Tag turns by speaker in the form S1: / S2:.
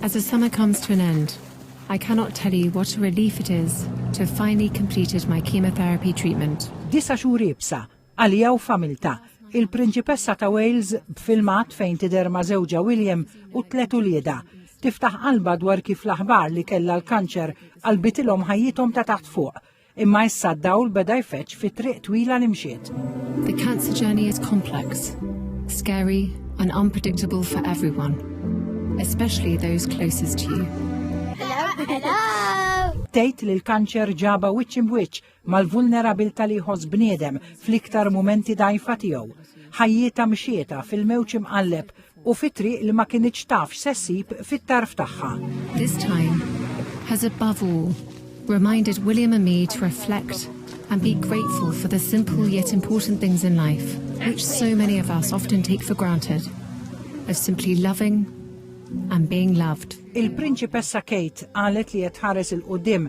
S1: As the summer comes to an end, I cannot tell you what a relief it is to have finally completed my chemotherapy treatment. Disa' xhur iebsa,
S2: għaliha u familtha, il-Prinċipessa ta' Wales b'filmat fejn tidher ma' żewġha William u tliet uliedha, tiftaħ qalbha dwar kif l-aħbar li kellha l-kanċer qalbitilhom ħajjithom ta' taħt fuq. Imma issa d-dawl beda jfeġġ fi triq twila li mxiet. The cancer
S1: journey is complex, scary and unpredictable for everyone, especially those closest to you.
S2: Tgħid li l-kanċer ġaba wiċċ imwiċċ mal-vulnerabilta li jħoss bniedem fl-iktar mumenti dajfa tiegħu. Ħajjita mxieta fil-mewġ imqalleb u fi triq li ma kinitx taf x'se ssib fit-tarf tagħha. This time
S1: has above all reminded William and me to reflect and be grateful for the simple yet important things in life which so many of us often take for granted of simply loving and being loved. Il-Prinċipessa
S2: Kate qalet li qed tħares il-qudiem